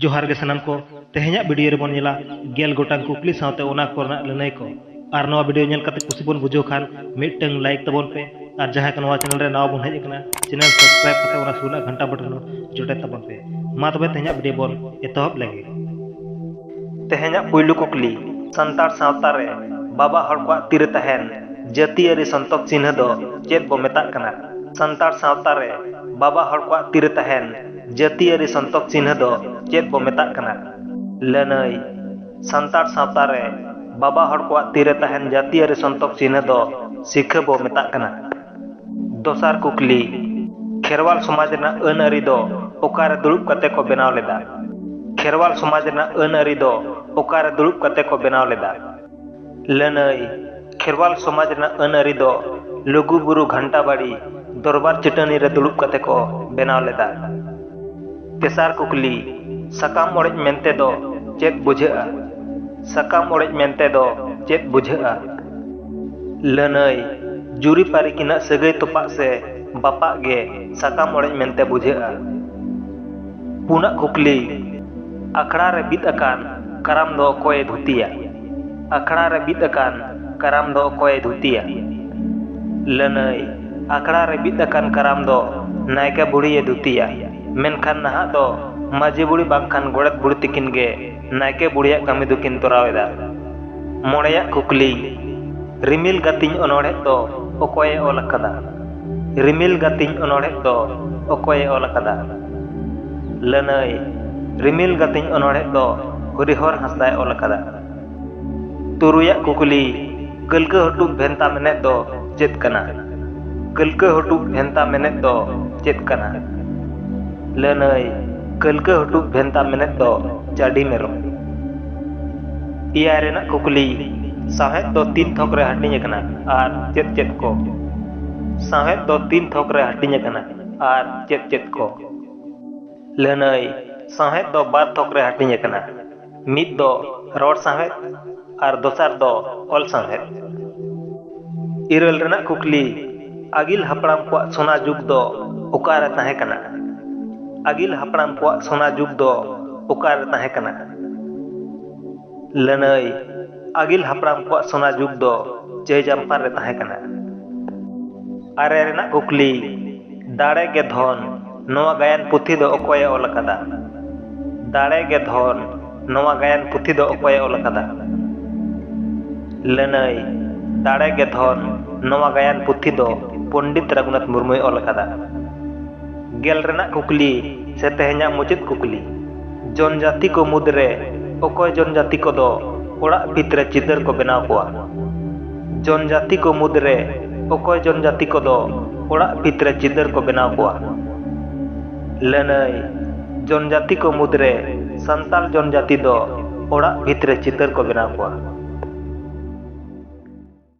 ᱡᱚᱦᱟᱨ ᱜᱮ ᱥᱟᱱᱟᱢ ᱠᱚ, ᱛᱮᱦᱮᱧᱟᱜ ᱵᱤᱰᱤᱭᱳ ᱨᱮ ᱵᱚᱱ ᱧᱮᱞᱟ ᱜᱮᱞ ᱜᱚᱴᱟᱝ ᱠᱩᱠᱞᱤ ᱥᱟᱶᱛᱮ ᱚᱱᱟ ᱠᱚ ᱨᱮᱱᱟᱜ ᱞᱟᱹᱱᱟᱹᱭ ᱠᱚ᱾ ᱟᱨ ᱱᱚᱣᱟ ᱵᱤᱰᱤᱭᱳ ᱧᱮᱞ ᱠᱟᱛᱮ ᱠᱩᱥᱤ ᱵᱚᱱ ᱵᱩᱡᱷᱟᱹᱣ ᱠᱷᱟᱱ ᱢᱤᱫᱴᱟᱹᱝ ᱞᱟᱭᱤᱠ ᱛᱟᱵᱚᱱ ᱯᱮ ᱟᱨ ᱡᱟᱦᱟᱸᱭ ᱠᱚ ᱱᱚᱣᱟ ᱪᱮᱱᱮᱞ ᱨᱮ ᱱᱟᱣᱟ ᱵᱚᱱ ᱦᱮᱡ ᱟᱠᱟᱱᱟ ᱪᱮᱱᱮᱞ ᱥᱟᱵᱥᱠᱨᱟᱭᱤᱵ ᱠᱟᱛᱮ ᱚᱱᱟ ᱥᱩᱨ ᱨᱮᱱᱟᱜ ᱜᱷᱟᱱᱴᱟ ᱵᱚᱴᱚᱱ ᱦᱚᱸ ᱡᱚᱴᱮᱫ ᱛᱟᱵᱚᱱ ᱯᱮ᱾ ᱢᱟ ᱛᱚᱵᱮ ᱛᱮᱦᱮᱧᱟᱜ ᱵᱤᱰᱤᱭᱳ ᱵᱚᱱ ᱮᱛᱚᱦᱚᱵ ᱞᱮᱜᱮ᱾ ᱛᱮᱦᱮᱧᱟᱜ ᱯᱩᱭᱞᱩ ᱠᱩᱠᱞᱤ, ᱥᱟᱱᱛᱟᱲ ᱥᱟᱶᱛᱟ ᱨᱮ ᱵᱟᱵᱟ ᱦᱚᱲ ᱠᱚᱣᱟᱜ ᱛᱤ ᱨᱮ ᱛᱟᱦᱮᱸᱱ ᱡᱟᱹᱛᱤᱭᱟᱹᱨᱤ ᱥᱚᱱᱛᱚᱠ ᱪᱤᱱᱦᱟᱹ ᱫᱚ ᱪᱮᱫ ᱵᱚ ᱢᱮᱛᱟᱜ ᱠᱟᱱᱟ? ᱥᱟᱱᱛᱟᱲ ᱥᱟᱶᱛᱟ ᱨᱮ ᱵᱟᱵᱟ ᱦᱚᱲ ᱠᱚᱣᱟᱜ ᱛᱤ ᱨᱮ ᱛᱟᱦᱮᱸᱱ ᱡᱟᱹᱛᱤᱭᱟᱹᱨᱤ ᱥᱚᱱᱛᱚᱠ ᱪᱤᱱᱦᱟᱹ ᱫᱚ ᱪᱮᱫ ᱵᱚ ᱢᱮᱛᱟᱜ ᱠᱟᱱᱟ? ᱞᱟᱹᱱᱟᱹᱭ, ᱥᱟᱱᱛᱟᱲ ᱥᱟᱶᱛᱟ ᱨᱮ ᱵᱟᱵᱟ ᱦᱚᱲ ᱠᱚᱣᱟᱜ ᱛᱤ ᱨᱮ ᱛᱟᱦᱮᱸᱱ ᱡᱟᱹᱛᱤᱭᱟᱹᱨᱤ ᱥᱚᱱᱛᱚᱠ ᱪᱤᱱᱦᱟᱹ ᱫᱚ ᱥᱤᱠᱷᱟᱹ ᱵᱚ ᱢᱮᱛᱟᱜ ᱠᱟᱱᱟ᱾ ᱫᱚᱥᱟᱨ ᱠᱩᱠᱞᱤ, ᱠᱷᱮᱨᱣᱟᱞ ᱥᱚᱢᱟᱡᱽ ᱨᱮᱱᱟᱜ ᱟᱹᱱ ᱟᱹᱨᱤ ᱫᱚ ᱚᱠᱟ ᱨᱮ ᱫᱩᱲᱩᱵ ᱠᱟᱛᱮ ᱠᱚ ᱵᱮᱱᱟᱣ ᱞᱮᱫᱟ? ᱠᱷᱮᱨᱣᱟᱞ ᱥᱚᱢᱟᱡᱽ ᱨᱮᱱᱟᱜ ᱟᱹᱱ ᱟᱹᱨᱤ ᱫᱚ ᱚᱠᱟ ᱨᱮ ᱫᱩᱲᱩᱵ ᱠᱟᱛᱮ ᱠᱚ ᱵᱮᱱᱟᱣ ᱞᱮᱫᱟ? ᱞᱟᱹᱱᱟᱹᱭ, ᱠᱷᱮᱨᱣᱟᱞ ᱥᱚᱢᱟᱡᱽ ᱨᱮᱱᱟᱜ ᱟᱹᱱ ᱟᱹᱨᱤ ᱫᱚ ᱞᱩᱜᱩ ᱵᱩᱨᱩ ᱜᱷᱟᱱᱴᱟ ᱵᱟᱲᱤ ᱫᱚᱨᱵᱟᱨ ᱪᱟᱹᱴᱟᱹᱱᱤ ᱨᱮ ᱫᱩᱲᱩᱵ ᱠᱟᱛᱮ ᱠᱚ ᱵᱮᱱᱟᱣ ᱞᱮᱫᱟ᱾ ᱛᱮᱥᱟᱨ ᱠᱩᱠᱞᱤ, ᱥᱟᱠᱟᱢ ᱚᱲᱮᱡ ᱢᱮᱱᱛᱮ ᱫᱚ ᱪᱮᱫ ᱵᱩᱡᱷᱟᱹᱜᱼᱟ? ᱥᱟᱠᱟᱢ ᱚᱲᱮᱡ ᱢᱮᱱᱛᱮ ᱫᱚ ᱪᱮᱫ ᱵᱩᱡᱷᱟᱹᱜᱼᱟ? ᱞᱟᱹᱱᱟᱹᱭ, ᱡᱩᱨᱤ ᱯᱟᱹᱨᱤ ᱠᱤᱱᱟᱜ ᱥᱟᱹᱜᱟᱹᱭ ᱛᱚᱯᱟᱜ ᱥᱮ ᱵᱟᱯᱟᱜ ᱜᱮ ᱥᱟᱠᱟᱢ ᱚᱲᱮᱡ ᱢᱮᱱᱛᱮ ᱵᱩᱡᱷᱟᱹᱜᱼᱟ᱾ ᱯᱩᱱᱟᱜ ᱠᱩᱠᱞᱤ, ᱟᱠᱷᱲᱟ ᱨᱮ ᱵᱤᱫ ᱟᱠᱟᱱ ᱠᱟᱨᱟᱢ ᱫᱚ ᱚᱠᱚᱭ ᱮ ᱫᱷᱩᱛᱤᱭᱟ? ᱟᱠᱷᱲᱟ ᱨᱮ ᱵᱤᱫ ᱟᱠᱟᱱ ᱠᱟᱨᱟᱢ ᱫᱚ ᱚᱠᱚᱭ ᱮ ᱫᱷᱩᱛᱤᱭᱟ? ᱞᱟᱹᱱᱟᱹᱭ, ᱟᱠᱷᱲᱟ ᱨᱮ ᱵᱤᱫ ᱟᱠᱟᱱ ᱠᱟᱨᱟᱢ ᱫᱚ ᱱᱟᱭᱠᱮ ᱵᱩᱲᱦᱤ ᱮ ᱫᱷᱩᱛᱤᱭᱟ᱾ ᱢᱮᱱᱠᱷᱟᱱ ᱱᱟᱦᱟᱜ ᱫᱚ ᱢᱟᱹᱡᱷᱤ ᱵᱩᱲᱦᱤ ᱵᱟᱝᱠᱷᱟᱱ ᱜᱚᱰᱮᱛ ᱵᱩᱲᱦᱤ ᱛᱤᱠᱤᱱ ᱜᱮ ᱱᱟᱭᱠᱮ ᱵᱩᱲᱦᱤᱭᱟᱜ ᱠᱟᱹᱢᱤ ᱫᱚᱠᱤᱱ ᱛᱚᱨᱟᱣ ᱮᱫᱟ ᱢᱚᱬᱮᱭᱟᱜ ᱠᱩᱠᱞᱤ ᱨᱤᱢᱤᱞ ᱜᱟᱹᱛᱤᱧ ᱚᱱᱚᱬᱦᱮ ᱫᱚ ᱚᱠᱚᱭᱮ ᱚᱞ ᱟᱠᱟᱫᱟ ᱨᱤᱢᱤᱞ ᱜᱟᱹᱛᱤᱧ ᱚᱱᱚᱬᱦᱮ ᱫᱚ ᱚᱠᱚᱭᱮ ᱚᱞ ᱟᱠᱟᱫᱟ ᱞᱟᱹᱱᱟᱹᱭ ᱨᱤᱢᱤᱞ ᱜᱟᱹᱛᱤᱧ ᱚᱱᱚᱬᱦᱮ ᱫᱚ ᱦᱚᱨᱤᱦᱚᱨ ᱦᱟᱸᱥᱫᱟᱭ ᱚᱞ ᱟᱠᱟᱫᱟ ᱛᱩᱨᱩᱭᱟᱜ ᱠᱩᱠᱞᱤ ᱠᱟᱹᱞᱠᱟᱹ ᱦᱚᱴᱩᱵ ᱵᱷᱮᱱᱛᱟ ᱢᱮᱱᱮᱫ ᱫᱚ ᱪᱮᱫ ᱠᱟᱱᱟ ᱠᱟᱹᱞᱠᱟᱹ ᱦᱚᱴᱩᱵ ᱵᱷᱮᱱᱛᱟ ᱢᱮᱱᱮᱫ ᱫᱚ ᱪᱮᱫ ᱠᱟᱱᱟ ᱞᱟᱹᱱᱟᱹᱭ ᱠᱟᱹᱞᱠᱟᱹ ᱦᱚᱴᱩᱵ ᱵᱷᱮᱱᱛᱟ ᱢᱮᱱᱮᱫ ᱫᱚ ᱪᱟᱹᱰᱤ ᱢᱮᱨᱚᱢ ᱮᱭᱟᱭ ᱨᱮᱱᱟᱜ ᱠᱩᱠᱞᱤ ᱥᱟᱶᱦᱮᱫ ᱫᱚ ᱛᱤᱱ ᱛᱷᱚᱠ ᱨᱮ ᱦᱟᱹᱴᱤᱧ ᱟᱠᱟᱱᱟ ᱟᱨ ᱪᱮᱫ ᱪᱮᱫ ᱠᱚ ᱥᱟᱶᱦᱮᱫ ᱫᱚ ᱛᱤᱱ ᱛᱷᱚᱠ ᱨᱮ ᱦᱟᱹᱴᱤᱧ ᱟᱠᱟᱱᱟ ᱟᱨ ᱪᱮᱫ ᱪᱮᱫ ᱠᱚ ᱞᱟᱹᱱᱟᱹᱭ ᱥᱟᱶᱦᱮᱫ ᱫᱚ ᱵᱟᱨ ᱛᱷᱚᱠ ᱨᱮ ᱦᱟᱹᱴᱤᱧ ᱟᱠᱟᱱᱟ ᱢᱤᱫ ᱫᱚ ᱨᱚᱲ ᱥᱟᱶᱦᱮᱫ ᱟᱨ ᱫᱚᱥᱟᱨ ᱫᱚ ᱚᱞ ᱥᱟᱶᱦᱮᱫ ᱤᱨᱟᱹᱞ ᱨᱮᱱᱟᱜ ᱠᱩᱠᱞᱤ ᱟᱹᱜᱤᱞ ᱦᱟᱯᱲᱟᱢ ᱠᱚᱣᱟᱜ ᱥᱚᱱᱟ ᱡᱩᱜᱽ ᱫᱚ ᱚᱠᱟᱨᱮ ᱛᱟᱦᱮᱸ ᱠᱟᱱᱟ ᱟᱹᱜᱤᱞ ᱦᱟᱯᱲᱟᱢ ᱠᱚᱣᱟᱜ ᱥᱚᱱᱟ ᱡᱩᱜᱽ ᱫᱚ ᱚᱠᱟᱨᱮ ᱛᱟᱦᱮᱸ ᱠᱟᱱᱟ ᱞᱟᱹᱱᱟᱹᱭ ᱟᱹᱜᱤᱞ ᱦᱟᱯᱲᱟᱢ ᱠᱚᱣᱟᱜ ᱥᱚᱱᱟ ᱡᱩᱜᱽ ᱫᱚ ᱪᱟᱹᱭᱡᱟᱢᱯᱟᱨ ᱨᱮ ᱛᱟᱦᱮᱸ ᱠᱟᱱᱟ ᱟᱨᱮ ᱨᱮᱱᱟᱜ ᱠᱩᱠᱞᱤ ᱫᱟᱲᱮ ᱜᱮ ᱫᱷᱚᱱ ᱱᱚᱣᱟ ᱜᱟᱭᱟᱱ ᱯᱩᱛᱷᱤ ᱫᱚ ᱚᱠᱚᱭᱮ ᱚᱞ ᱟᱠᱟᱫᱟ? ᱫᱟᱲᱮ ᱜᱮ ᱫᱷᱚᱱ ᱱᱚᱣᱟ ᱜᱟᱭᱟᱱ ᱯᱩᱛᱷᱤ ᱫᱚ ᱚᱠᱚᱭᱮ ᱚᱞ ᱟᱠᱟᱫᱟ? ᱞᱟᱹᱱᱟᱹᱭ ᱫᱟᱲᱮ ᱜᱮ ᱫᱷᱚᱱ ᱱᱚᱣᱟ ᱜᱟᱭᱟᱱ ᱯᱩᱛᱷᱤ ᱫᱚ ᱯᱚᱱᱰᱤᱛ ᱨᱟᱜᱷᱩᱱᱟᱛᱷ ᱢᱩᱨᱢᱩᱭ ᱚᱞ ᱟᱠᱟᱫᱟ᱾ ᱜᱮᱞ ᱨᱮᱱᱟᱜ ᱠᱩᱠᱞᱤ ᱥᱮ ᱛᱮᱦᱮᱧᱟᱜ ᱢᱩᱪᱟᱹᱫ ᱠᱩᱠᱞᱤ᱾ ᱡᱚᱱᱡᱟᱛᱤ ᱠᱚ ᱢᱩᱫᱽ ᱨᱮ ᱚᱠᱚᱭ ᱡᱚᱱᱡᱟᱛᱤ ᱠᱚ ᱫᱚ ᱚᱲᱟᱜ ᱵᱷᱤᱛ ᱨᱮ ᱪᱤᱛᱟᱹᱨ ᱠᱚ ᱵᱮᱱᱟᱣ ᱠᱚᱣᱟ? ᱡᱚᱱᱡᱟᱛᱤ ᱠᱚ ᱢᱩᱫᱽ ᱨᱮ ᱚᱠᱚᱭ ᱡᱚᱱᱡᱟᱛᱤ ᱠᱚ ᱫᱚ ᱚᱲᱟᱜ ᱵᱷᱤᱛ ᱨᱮ ᱪᱤᱛᱟᱹᱨ ᱠᱚ ᱵᱮᱱᱟᱣ ᱠᱚᱣᱟ? ᱞᱟᱹᱱᱟᱹᱭ, ᱡᱚᱱᱡᱟᱛᱤ ᱠᱚ ᱢᱩᱫᱽ ᱨᱮ ᱥᱟᱱᱛᱟᱞ ᱡᱚᱱᱡᱟᱛᱤ ᱫᱚ ᱚᱲᱟᱜ ᱵᱷᱤᱛ ᱨᱮ ᱪᱤᱛᱟᱹᱨ ᱠᱚ ᱵᱮᱱᱟᱣ ᱠᱚᱣᱟ᱾